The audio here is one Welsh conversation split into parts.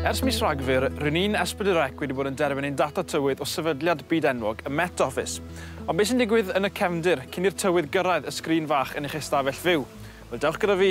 Ers mis Rhagfyr, rydyn ni'n Esbydyrec wedi bod yn derbyn ein data tywydd o sefydliad byd enwog y Met Office. Ond beth sy'n digwydd yn y cefndir cyn i'r tywydd gyrraedd y sgrin fach yn eich ystafell fyw? Wel, dewch gyda fi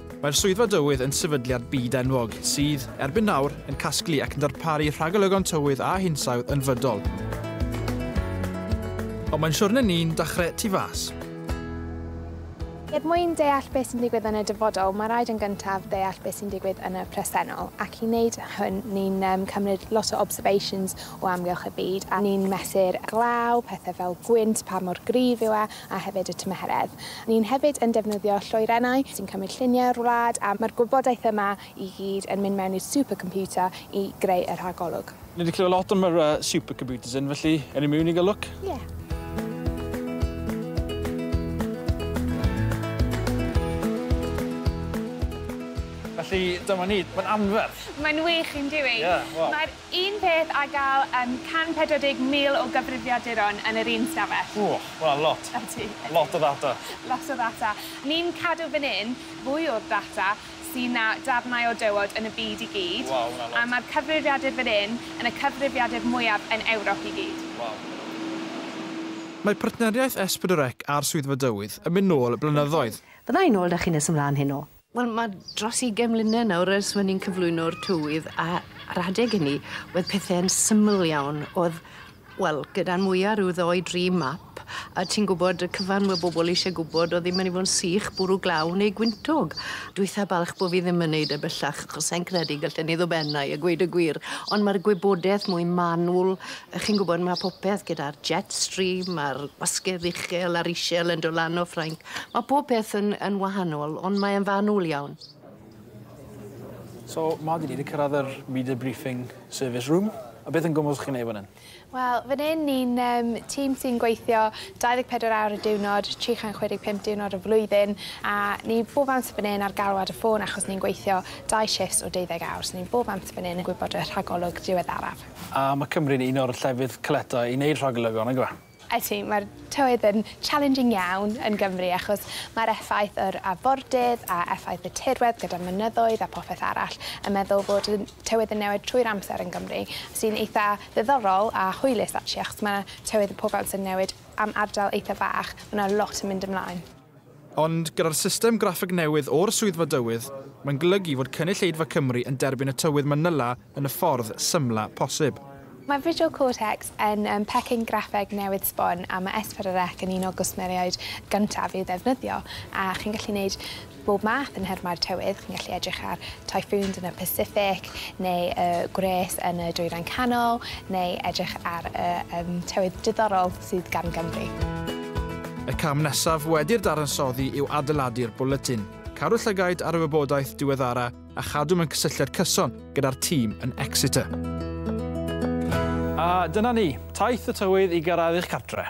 Mae'r Swyddfa Dywydd yn sefydliad byd-enwog sydd, erbyn nawr, yn casglu ac yn darparu rhagolygon tywydd a hinsawdd yn fydol. Ond mae'n siwrne ni'n dechrau tu fas. Er mwyn deall beth sy'n digwydd yn y dyfodol, mae rhaid yn gyntaf deall beth sy'n digwydd yn y presennol, ac i wneud hwn, ni'n cymryd lot o observations o amgylch y byd, a ni'n mesur glaw, pethau fel gwynt, pa mor gryf yw e, a hefyd y tymheredd. Ni'n hefyd yn defnyddio lloerennau sy'n cymryd lluniau o'r wlad a mae'r gwybodaeth yma i gyd yn mynd mewn i'r supercomputer i greu y rhagolwg. Ni 'di clywed lot am yr yy supercomputers hyn felly ewn ni miwn i ga'l lwc? Ie. Felly dyma ni. Mae'n anferth! Mae'n wych, yndyw i? Ie, wel. Mae'r Un peth a gall yym 140,000 o gyfrifiaduron yn yr un stafell. Ww, ma' hwnna'n lot. Ydy, ydy. Lot o ddata. Lot o ddata. Ni'n cadw fan hyn fwy o'r data sy' na darnau o dywod yn y byd i gyd. Waw, ma' hwnna'n lot. A ma'r cyfrifiadur fan hyn yn y cyfrifiadur mwyaf yn Ewrop i gyd. Waw. Mae partneriaeth S4C a'r Swyddfa Dywydd yn mynd nôl blynyddoedd. Fydda i nôl 'da chi nes ymlaen heno. Wel, mae dros ugain mlynedd nawr ers fy' ni'n cyflwyno'r tywydd a a'r adeg ynni wedd pethe'n syml iawn o'dd wel gyda'n mwya ryw ddou dri map a ti'n gwbod y cyfan we' bobol isie gwbod o'dd 'im myn' i fo' yn sych bwrw glaw neu gwyntog. Dwi itha balch bo' fi ddim yn neud e bellach achos sai'n credu gallen i ddod ben ai a gweud y gwir ond ma'r gwybodeth mwy manwl yy chi'n gwbod ma' popeth gyda'r jet stream a'r gwasgedd uchel a'r ishel yn do' lan o Ffrainc Mae pob peth yn, yn wahanol, ond mae e'n fanwl iawn. So, ma, dyn ni wedi cyrraedd yr media briefing service room. A beth yn gwmwys chi'n ei fan hyn? Wel, fan hyn ni'n um, tîm sy'n gweithio 24 awr y diwrnod, 365 diwrnod y flwyddyn, a ni bob amser fan hyn ar galwad y ffôn achos ni'n gweithio dau shifts o 12 awr, so ni bob amser fan hyn yn gwybod y rhagolwg diweddaraf. A mae Cymru'n un o'r llefydd caletau i wneud rhagolygon, yn gwybod? Ydy, mae'r tywydd yn challenging iawn yn Gymru achos mae'r effaith yr afordydd a effaith y tirwedd gyda'r mynyddoedd a popeth arall yn meddwl fod y tywydd yn newid trwy'r amser yn Gymru sy'n eitha ddiddorol a hwylus actually achos mae tywydd y pob amser yn newid am ardal eitha bach, mae 'na lot yn mynd ymlaen. Ond gyda'r system graffeg newydd o'r Swyddfa Dywydd, mae'n golygu fod cynulleidfa Cymru yn derbyn y tywydd Manila yn y ffordd symla posib. Mae Visual Cortex yn pecyn graffeg newydd sbon a mae S4C yn un o gwsmeriaid gyntaf i'w ddefnyddio, a chi'n gallu gwneud bob math yn nhermau'r tywydd, chi'n gallu edrych ar typhoons yn y Pacific neu y gwres yn y Dwyrain Canol, neu edrych ar y tywydd diddorol. sydd gan Gymru. Y cam nesaf wedi'r dadansoddi yw adeiladu'r bwletin, cadw llygaid ar y wybodaeth diweddara a chadw mewn cysylltiad cyson gyda'r tîm yn Exeter. A dyna ni, taith y tywydd i gyrraedd eich cartre.